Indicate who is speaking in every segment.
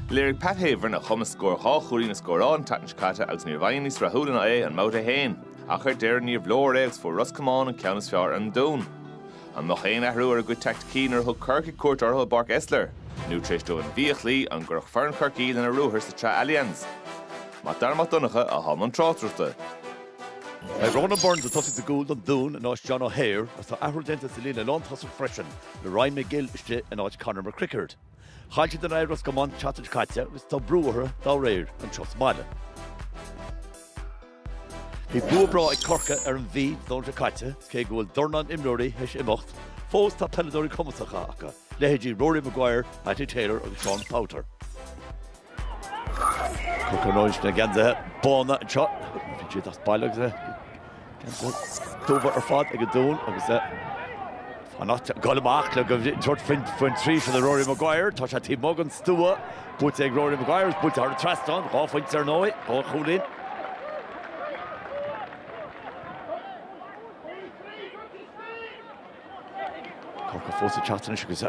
Speaker 1: Léirigh Pat Havern a chumas scór dhá chúilín a scóráil an tseachtain seo caite agus ní raibh éinne níos rathúla ná é i mbabhta a haon. Ach ar deireadh níorbh leor é agus fuair Ros Comáin an ceann is fearr ar an Dún. An mbeadh aon athrú ar a gcuid teaicticí nuair a thug Corcaigh cuairt orthu i bPáirc Esler? Nó tar éis dóibh an Mhí a chloí, an gcuirfeadh foireann Chorcaí lena ruathar sa tsraith Allianz? Mac Dara Mac Donncha atá i mbun tráchtaireachta. Beidh
Speaker 2: Ronan Burns ag tosaí sa gcúl don Dún in áit John O'Hare agus tá athrú déanta sa líne lántosach freisin le Ryan Magill istigh in áit Conor McCrickard. Chaill siad in aghaidh Ros Comáin an tseachtain seo caite agus tá brú orthu dá réir anseo sa mbaile. Bhí bua breá ag Corcaigh ar an Mhí an Domhnach seo caite agus cé go bhfuil dornán imreoirí théis imeacht, fós tá peileadóirí cumasacha acu, leithéidí Rory Maguire, Mattie Taylor agus Seán Powter. Corcaigh sna geansaithe bána anseo. Bíonn siad as baile agus geansaithe dubha ar fad ag an Dún agus fanacht ag dul amach le go dtabhairt faoin dtrí seod é Rory Maguire. Tá sé taobh amuigh den stua, buailte ag Rory Maguire agus buailte thar an trasnán, dhá phointe ar ndóigh dhá chúilín. Corcaigh fós ag teacht anois agus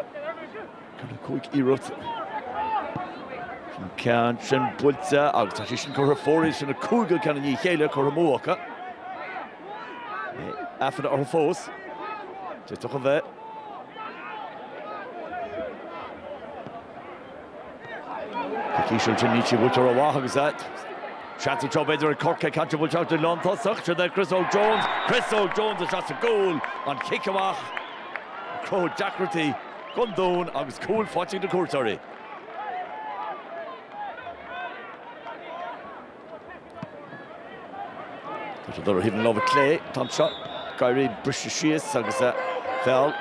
Speaker 2: 4-5 iarracht an ceann sin buailte agus tá sé sin curtha ar fóraoil, sin an cúigiú ceann i ndiaidh a chéile curtha amú acu. Aiféala orthu fós. D'fhéadfadh a bheith. Tá an chiceáil sin, níl sí buailte rómhaith agus seans anseo b'fhéidir ag Corcaigh ceann buailte isteach go dtí an lántosach. Seod é Chris Óg Jones, Chris Óg Jones isteach sa gcúl, an chic amach ag cruthú deacrachtaí don Dún agus cúl faighte ag na cuairteoirí. Tá siad ar thaobh na láimhe clé an t-am seo. Ag iarraidh briseadh síos agus a feall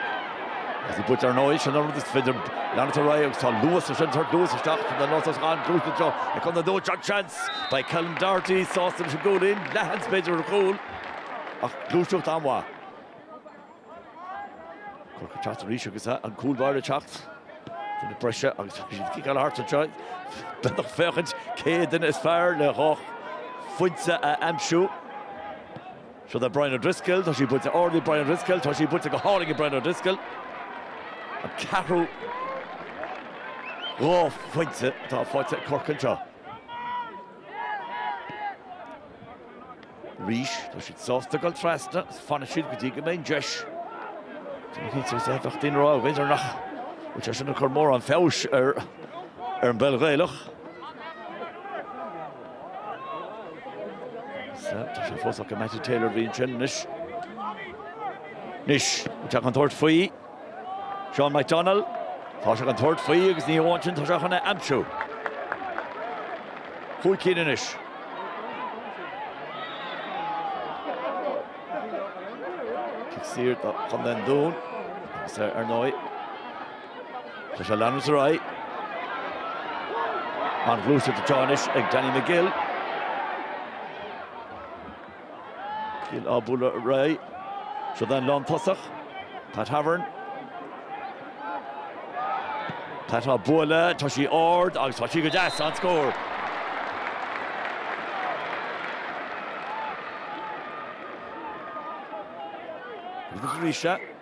Speaker 2: as a gcuid ar ndóigh. Sin an rud is féidir leanacht ar aghaidh agus tá luas freisin. Tabhair luas isteach sa ngluaiseacht seo ag Contae an Dúin. An seans? Beidh Ceilum Doherty sásta leis an gcúilín. Leathsheans b'fhéidir ar an chúl ach gluaiseacht an-mhaith. Corcaigh ag teacht arís agus an cúl báire ag teacht chun na breise agus tá siad ag ciceáil thart anseo. B'fhéidir ag féachaint cé duine is fearr le dhá phointe a aimsiú. Seod é Brian O'Driscoll, tá sé buailte ard ag Brian O'Driscoll, tá sé buailte go hálainn ag Brian O'Driscoll. An ceathrú dhá phointe atá faighte ag Corcaigh anseo. Arís, tá siad sásta dul trasna agus fanfaidh siad go dtí go mbeidh an deis. Ní cinnte agus a bheadh daoine ag rá, b'fhéidir, nach bhfuil sé sin ag cur mórán feabhais ar an bpeil Ghaelach. Sea, tá sé fós acu Mattie Taylor a bhí ansin. Anois, teacht an tabhairt faoi. Seán Mac Dónaill, Tá sé chun tabhairt faoi agus ní hamháin sin, tá sé chun é a aimsiú. Cúig cinn anois. Cic saor do Chontae an Dúin, agus ar ndóigh. Tá sé ag leanúint ar aghaidh. An-ghluaiseacht atá anois ag Danny McGill. McGill á bualadh réidh. Seo den lán tosach. Pat Havern. Pat á bualadh, tá sí ard agus tá sí go deas. An scór. Ríse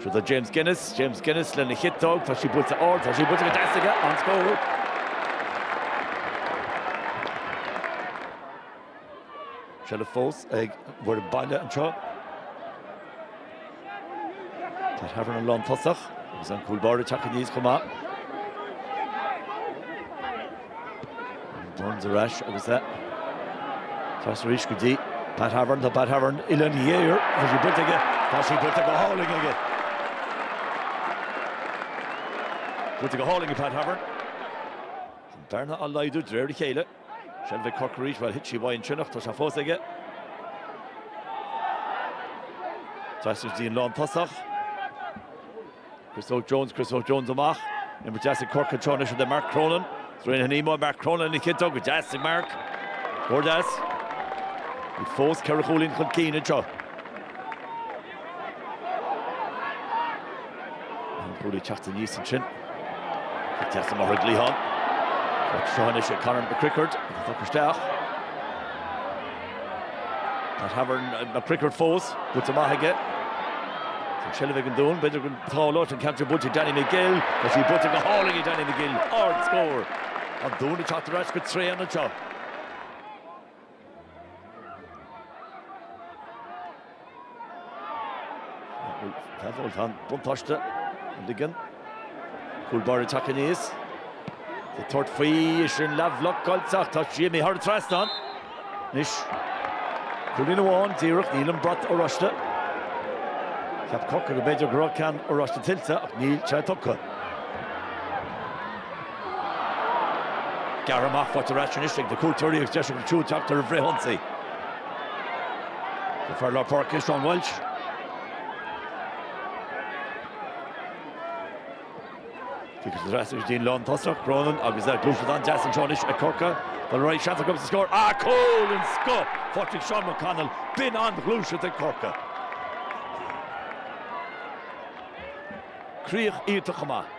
Speaker 2: Seo do James Guinness, James Guinness lena chiotóg, tá sí buailte ard, tá sí buailte go deas aige, an-scór! Seilbh fós ag an bhfoireann baile anseo. Pat Havern an lán tosach, agus an cúl báire ag teacht aníos chomh maith. Burns ar ais agus é ag pas arís go dtí Pat Havern. Tá Pat Havern i linn a ghéar. Tá sí buailte aige. Tá sí buailte go hálainn aige. Buailte go hálainn ag Pat Havern. An bearna á laghdú de réir a chéile. Seilbh ag Corcaigh arís. Bhuel, thit sí uaidh ansin ach tá sé fós aige. Trasna go dtí an lán tosach. Chris Óg Jones, Chris Óg Jones amach. Imirt deas ag Corcaigh anseo anois idir Mark Cronin is Raine Ní Mhaoil. Mark Cronin lena chiotóg go deas ag Mark. Mór deas. Bhí fós ceithre chúilín chun cinn anseo. An cúlaí ag teacht aníos ansin. Bhí deas amach ag Liam. Seo anois ag Conor McCrickard. Tá fágtha isteach. Pat Havern McCrickard fós, buailte maith aige. An seilbh ag an Dún, b'fhéidir dhá, tá sí sa cheantar, buailte ag Danny McGill, tá sí buailte go hálainn ag Danny McGill, ard scór. An Dún ag teacht ar ais go tréan anseo. Réiteoir buntáiste á ligean. Cúl báire ag teacht aníos. Ag tabhairt faoi é sin leathbhlocáilte ach tá sí imithe thar an trasnán anois. Cúilín amháin díreach, níl an brat oráiste. Cheap Corcaigh go mb'fhéidir go raibh ceann oráiste tuillte ach níl sé tugtha. Gan mórán fáilte ar ais anois ag na cuairteoirí agus deis againn siúd teacht ar bhreithionsaí. An fear lár páirce é Sean Walsh. Tiocfaidh siad ar ais go dtí an lántosach, Cronin agus an ghluaiseacht an-deas anseo anois ag Corcaigh. Tá na Roinnigh seans acu sa scór agus cúl den scoth ag Seán Mac Connaill, b'in an-ghluaiseacht ag Corcaigh. Críoch iontach chomh maith.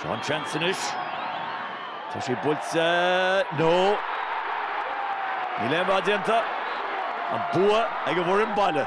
Speaker 2: Seo an seans anois. Tá sé buailte. No. Níl aon rud déanta. An bua ag an bhfoireann baile.